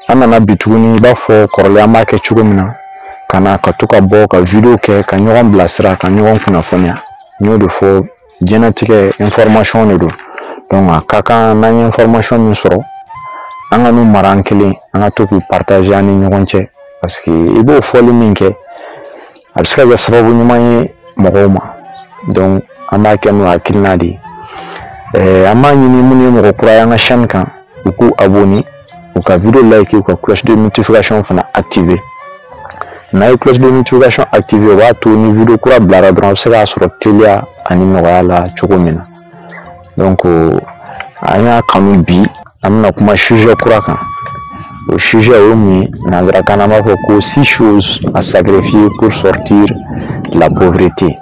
an nana bi tuguni i b'a fɔ kɔrɔlen an b'a kɛ cogo min na ka na ka to ka bɔ ka wideyo kɛ ka ɲɔgɔn bilasira ka ɲɔgɔn kunnafoniya n y'o de fɔ jɛnatigɛ information de don donc a ka kan n'an ye information min sɔrɔ an kan'u mara an kelen an ka to k'u partager an ni ɲɔgɔn cɛ parce que i b'o fɔli min kɛ a bɛ se ka kɛ sababu ɲuman ye mɔgɔw ma donc an b'a kɛ n'o hakilina de ye ɛɛ an b'a ɲini minnu ye mɔgɔ kura ye an ka chaîne kan u k'u abonner u ka video like u ka cloche de notification fana activer n'a ye cloche de notification activer o b'a to ni video kura bilara dɔrɔn a bɛ se k'a sɔrɔ teliya ani nɔgɔya la cogo min na donc an y'a kanu bi an bɛna kuma sujet kura kan o sujet o ye mun ye nanzarakan na an b'a fɔ ko six choses à sacrifier pour sortir de la pauvreté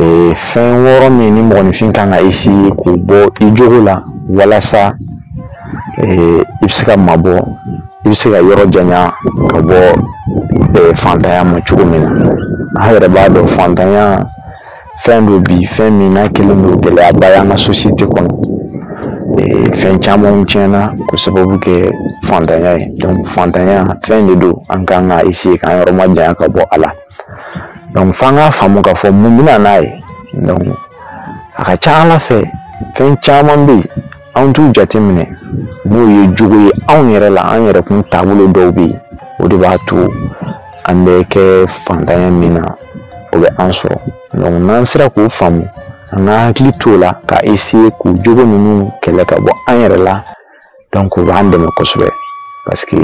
ee fɛn wɔɔrɔ min ni mɔgɔninfin kan ka eseye k'u bɔ i jogo la walasa ee i bɛ se ka mabɔ i bɛ se ka yɔrɔ janya ka bɔ ee fantanya ma cogo min na an yɛrɛ b'a dɔn fantanya fɛn don bi fɛn min n'a kɛlen don gɛlɛyaba y'an ka sosiyete kɔnɔ ee fɛn camanw tiɲɛna k'o sababu kɛ fantanya ye fantanya fɛn de don an kan ka eseye k'an yɔrɔ majanya ka bɔ a la dɔnku f'an k'a faamu k'a fɔ mun bɛ na n'a ye dɔnku a ka ca a la fɛ fɛn caman bɛ yen anw t'u jateminɛ n'o ye jogo ye anw yɛrɛ la an yɛrɛ kun taabolo dɔw bɛ yen o de b'a to an bɛ kɛ fantanya min na o bɛ an sɔrɔ dɔnku n'an sera k'o faamu an ka hakili t'o la ka eseye k'o jogo ninnu kɛlɛ ka bɔ an yɛrɛ la dɔnku o b'an dɛmɛ kosɛbɛ paseke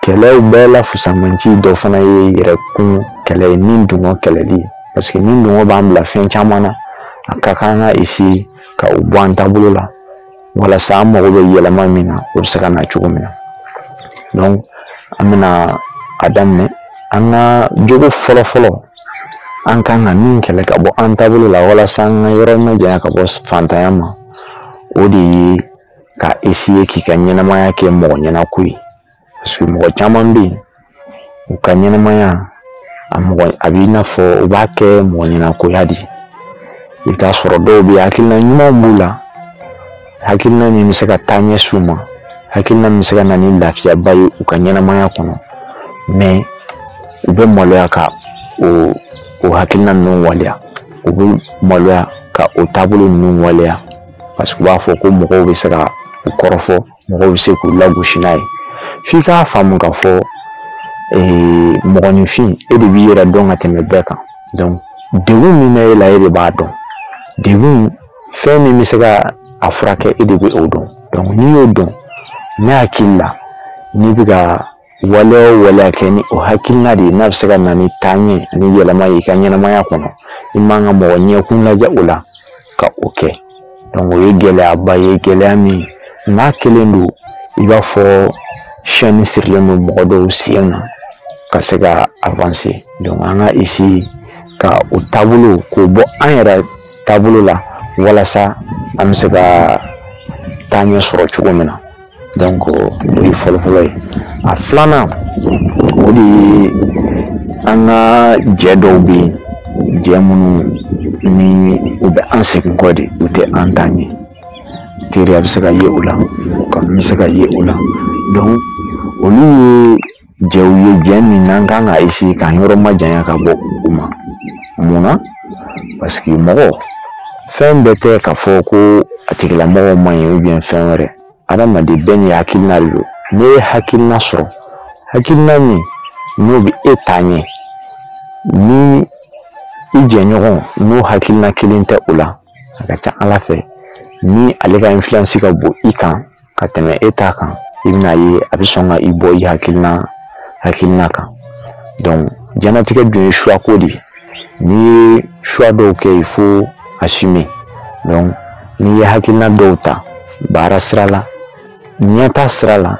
kɛlɛw bɛɛ la fusamanci dɔ fana ye yɛrɛkun kɛlɛ ye ni dungɔ kɛlɛli ye paseke ni dungɔ b'an bila fɛn caman na a ka kan ka eseye ka u bɔ an taabolo la walasa an mago bɛ yɛlɛma min na o bɛ se ka na cogo min na an bɛna a daminɛ an ka jogo fɔlɔ fɔlɔ an kan ka min kɛlɛ ka bɔ an taabolo la walasa an ka yɔrɔ majanya ka bɔ fantanya ma o de ye ka eseye k'i ka ɲɛnamaya kɛ mɔgɔ ɲɛnako ye mɔgɔ caman bɛ yen u ka ɲɛnamaya a mɔgɔ a b'i n'a fɔ u b'a kɛ mɔgɔ ɲɛnakoya de i bɛ t'a sɔrɔ dɔw bɛ yen hakilina ɲumanw b'u la hakilina min bɛ se ka taaɲɛ s'u ma hakilina min bɛ se ka na ni lafiyaba ye u ka ɲɛnamaya kɔnɔ mɛ u bɛ maloya ka o o hakilina ninnu waleya u bɛ maloya ka o taabolo ninnu waleya parce que u b'a fɔ ko mɔgɔw bɛ se ka u kɔrɔfɔ mɔgɔw bɛ se k'u lagosi n'a ye f'i k'a faamu k'a fɔ ee mɔgɔninfin e de b'i yɛrɛ dɔn ka tɛmɛ bɛɛ kan donc degun min bɛ e la e de b'a dɔn degun fɛn min bɛ se ka a furakɛ e de bɛ o dɔn n'i y'o dɔn ne hakili la n'i bɛ ka waleya o waleya kɛ ni o hakilina de ye n'a bɛ se ka na ni taaɲɛ ani yɛlɛma ye i ka ɲɛnamaya kɔnɔ i man ka mɔgɔ ɲɛkun lajɛ o la ka o kɛ o ye gɛlɛyaba ye gɛlɛya min n'a kelen don i b'a fɔ chaîne sirilen don mɔgɔ dɔw sen na ka se ka avancer an ka essayer ka o taabolo k'o bɔ an yɛrɛ taabolo la walasa an bɛ se ka taaɲɛ sɔrɔ cogo min na donc o ye fɔlɔfɔlɔ ye a filanan o de ye an ka jɛ dɔw bɛ yen jɛ minnu ni u bɛ an segin kɔ de u tɛ an ta ɲɛ teriya bɛ se ka ye o la kanu bɛ se ka ye o la donc olu ye jɛw ye jɛ min n'an kan ka essayer k'an yɔrɔ majanya ka bɔ u ma mun na parce que mɔgɔ fɛn bɛɛ tɛ k'a fɔ ko a tigilamɔgɔ man ɲi ou bien fɛn wɛrɛ adamaden bɛɛ n'i hakilina de don n'i ye hakilina sɔrɔ hakilina min n'o bɛ e ta ɲɛ ni i jɛɲɔgɔn n'o hakilina kelen tɛ o la a ka ca à la fin ni ale ka influence ka bon i kan ka tɛmɛ e ta kan i bɛna ye a bɛ sɔn ka i bɔ i hakilina kan diɲɛnatigɛ dun ye choix ko de ye n'i ye choix dɔw kɛ il faut assumer n'i ye hakilina dɔw ta baara sira la ɲɛtaa sira la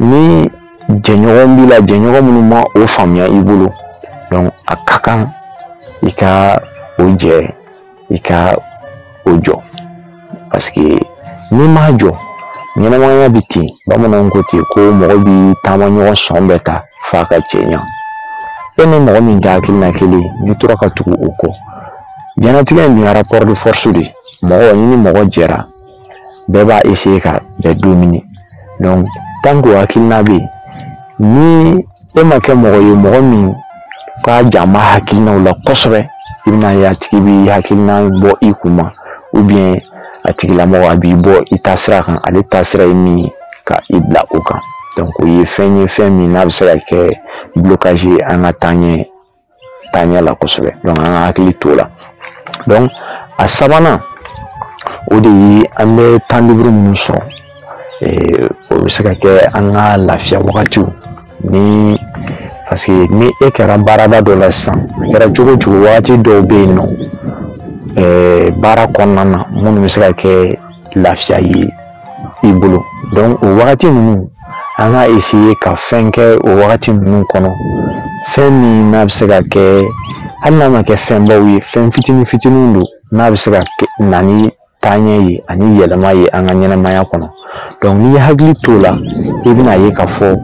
ni jɛɲɔgɔn b'i la jɛɲɔgɔn minnu ma o faamuya i bolo a ka kan i ka o jɛ i ka o jɔ parce que n'i m'a jɔ ɲɛnamaya bɛ ten bamananw ko ten ko mɔgɔ b'i taamaɲɔgɔn sɔn bɛɛ ta f'a ka cɛɲa e ni mɔgɔ min tɛ hakilina kelen n'i tora ka tugu o kɔ diɲɛnatigɛ in dun rapport de force de mɔgɔ ni mɔgɔ jɛra bɛɛ b'a essayer ka bɛɛ dominer donc tant que o hakilina bɛ yen ni e ma kɛ mɔgɔ ye mɔgɔ min ka jama hakilinaw la kosɛbɛ i bɛna ye a tigi b'i hakilina bɔ i kun ma ou bien a tigilamɔgɔ a b'i bɔ i taasira kan ale taasira ye min ye ka i bila o kan donc o ye fɛn ye fɛn min n'a bɛ se ka kɛ blocage ye an ka taaɲɛ taaɲɛ la kosɛbɛ donc an ka hakili t'o la donc a sabanan o de ye an bɛ temps libre minnu sɔrɔ o bɛ se ka kɛ an ka lafiya wagatiw ni parce que ni e kɛra baarada dɔ la sisan a kɛra cogo cogo wagati dɔw bɛ yen nɔ baara kɔnɔna na minnu bɛ se ka kɛ lafiya ye i bolo donc o wagati ninnu an ka essayer ka fɛn kɛ o wagati ninnu kɔnɔ fɛn min n'a bɛ se ka kɛ hali n'a ma kɛ fɛnbaw ye fɛn fitinin fitinin don n'a bɛ se ka na ni taaɲɛ ye ani yɛlɛma ye an ka ɲɛnamaya kɔnɔ donc n'i ye hakili t'o la i bɛna ye k'a fɔ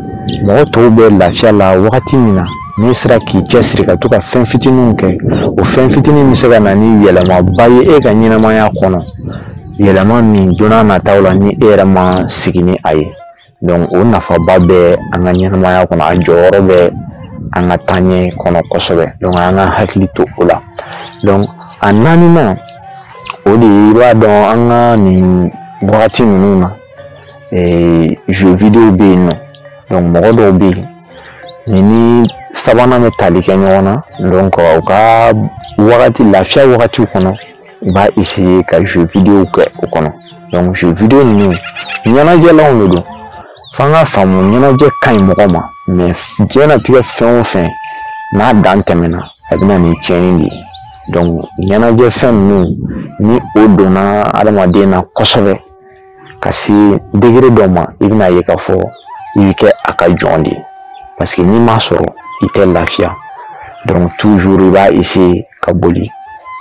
mɔgɔ tɔw bɛ lafiya la wagati min na n'i sera k'i cɛsiri ka to ka fɛn fitininw kɛ o fɛn fitinin bɛ se ka na ni yɛlɛmaba ye e ka ɲɛnamaya kɔnɔ yɛlɛma min donna nataw la ni e yɛrɛ ma sigi ni a ye donc o nafaba bɛ an ka ɲɛnamaya kɔnɔ a jɔyɔrɔ bɛ an ka taaɲɛ kɔnɔ kosɛbɛ donc an ka hakili to o la donc a naaninan o de ye i b'a dɔn an ka nin wagati ninnu na jeux vidéo bɛ yen nɔ donc mɔgɔ dɔw bɛ yen nin ni sabanan bɛ tali kɛ ɲɔgɔn na donc u ka wagati lafiya wagatiw kɔnɔ u b'a essayer ka jeux vidéo kɛ o kɔnɔ donc jeux vidéo ninnu ɲɛnajɛlanw de don f'an k'a faamu ɲɛnajɛ ka ɲi mɔgɔ ma mais diɲɛnatigɛ fɛn o fɛn n'a dan tɛmɛna a bɛ na ni tiɲɛni de ye donc ɲɛnajɛ fɛn ninnu ni o donna adamaden na kosɛbɛ ka se degré dɔ ma i bɛna ye k'a fɔ i bɛ kɛ a ka jɔn de ye parce que n'i m'a sɔrɔ i tɛ lafiya donc toujours i b'a essayer ka boli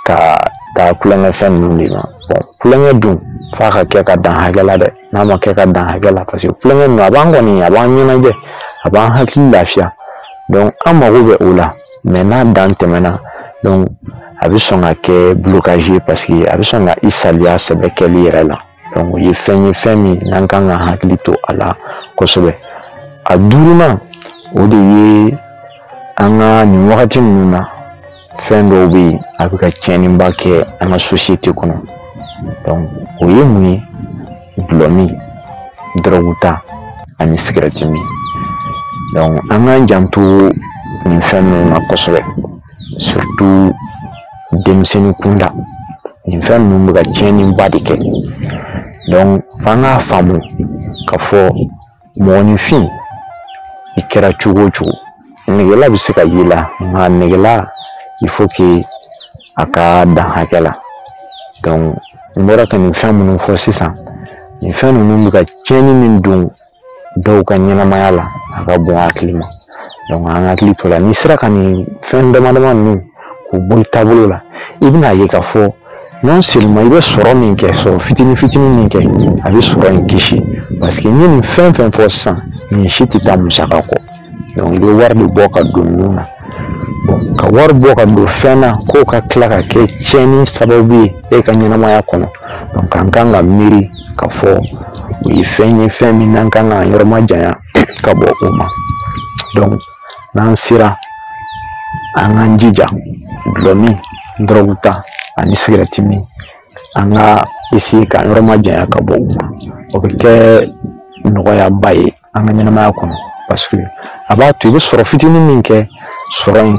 ka taa tulonkɛ fɛn ninnu de ma tulonkɛ dun f'a ka kɛ ka dan hakɛ la dɛ n'a ma kɛ ka dan hakɛ la parce que tulonkɛ ninnu a b'an kɔni a b'an ɲɛnajɛ a b'an hakili lafiya donc an mago bɛ o la mais n'a dan tɛmɛna a bɛ sɔn ka kɛ blocage ye parce que a bɛ sɔn ka i saliya sɛbɛ kɛli yɛrɛ la o ye fɛn ye fɛn min n'an kan ka hakili to a la kosɛbɛ a duurunan o de ye an ka nin wagati ninnu na fɛn dɔw bɛ yen a bɛ ka tiɲɛniba kɛ an ka société kɔnɔ donc o ye mun ye dɔlɔmin dɔrɔgu ta ani sigɛrɛti min donc an k'an janto nin fɛn ninnu na kosɛbɛ denmisɛnnin kunda nin fɛn ninnu bɛ ka tiɲɛniba de kɛ donc f'an k'a faamu k'a fɔ mɔgɔninfin i kɛra cogo o cogo negela bɛ se ka y'i la nka negela il faut que a ka dan hakɛ la donc n bɔra ka nin fɛn minnu fɔ sisan nin fɛn ninnu bɛ ka tiɲɛni min don dɔw ka ɲɛnamaya la a ka bon hakili ma donc an hakili t'o la n'i sera ka nin fɛn dama dama ninnu k'u bɔ i taabolo la i bɛna a ye k'a fɔ non seulement i bɛ sɔrɔ min kɛ sɔrɔ fitinin fitinin min kɛ a bɛ sɔrɔ in kisi paseke n ye nin fɛn fɛn fɔ sisan nin si tɛ taa musaka kɔ donc i bɛ wari de bɔ ka don ninnu na ka wari bɔ ka don fɛn na k'o ka tila ka kɛ tiɲɛni sababu ye e ka ɲɛnamaya kɔnɔ donc an kan ka miiri k'a fɔ o ye fɛn ye fɛn min n'an kan k'an yɔrɔ ma janya ka bɔ o ma donc n'an sera an k'an jija dɔlɔ min dɔrɔgu ta ani sigɛrɛti min an ka essayer k'an yɔrɔ ma janya ka bɔ u ma o bɛ kɛ nɔgɔyaba ye an ka ɲɛnamaya kɔnɔ paseke a b'a to i bɛ sɔrɔ fitinin min kɛ sɔrɔ in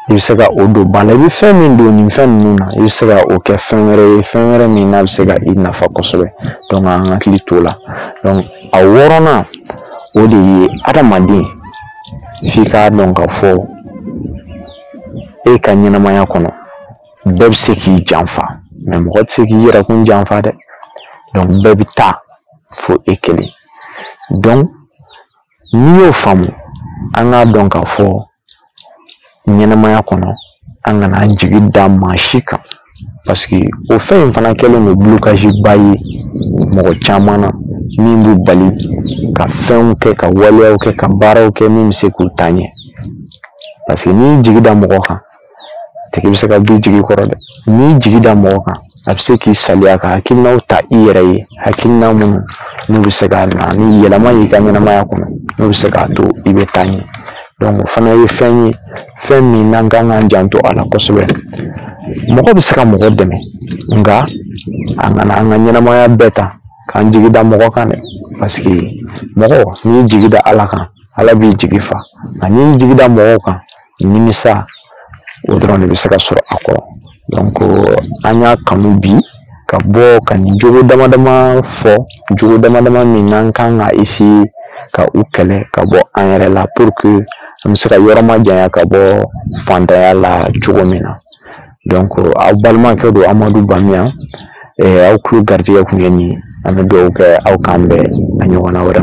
i bɛ se ka o don ba la i bɛ fɛn min don nin fɛn ninnu na i bɛ se ka o kɛ fɛn wɛrɛ ye fɛn wɛrɛ min n'a bɛ se ka i nafa kosɛbɛ donc an hakili t'o la donc a wɔɔrɔnan o de ye adamaden f'i k'a dɔn k'a fɔ e ka ɲɛnamaya kɔnɔ bɛɛ bɛ se k'i janfa mais mɔgɔ tɛ se k'i yɛrɛkun janfa dɛ donc bɛɛ bɛ taa fo e kelen n'i y'o faamu an k'a dɔn k'a fɔ ɲɛnamaya kɔnɔ an kana an jigi da maa si kan paseke o fɛn in fana kɛlen don blocage ba ye mɔgɔ caman na min b'u bali ka fɛnw kɛ ka waleyaw kɛ ka baaraw kɛ min bɛ se k'u taa ɲɛ paseke n'i jigi da mɔgɔ kan tigi bɛ se ka b'i jigi kɔrɔ dɛ n'i jigi da mɔgɔ kan a bɛ se k'i salaya ka hakilinaw ta i yɛrɛ ye hakilina minnu n'u bɛ se ka na ni yɛlɛma y'i ka ɲɛnamaya kɔnɔ n'u bɛ se k'a to i bɛ taa ɲɛ donc o fana ye fɛn ye fɛn min n'an kan k'an janto a la kosɛbɛ mɔgɔ bɛ se ka mɔgɔ dɛmɛ nka an kana an ka ɲɛnamaya bɛɛ ta k'an jigi da mɔgɔ kan dɛ paseke mɔgɔ n'i y'i jigi da ala kan ala b'i jigi fa nka n'i y'i jigi da mɔgɔw kan nimisa o dɔrɔn de bɛ se ka sɔrɔ a kɔrɔ donc an y'a kanu bi ka bɔ ka nin jogo dama dama fɔ jogo dama dama min n'an kan ka essayer ka u kɛlɛ ka bɔ an yɛrɛ la pour que an bɛ se ka yɔrɔ ma janya ka bɔ fantanya la cogo min na donc aw balimakɛ don amadu bamiyan aw tulo garijɛgɛ kun ye nin ye an bɛ dugawu kɛ aw k'an bɛn a ɲɔgɔnna wɛrɛ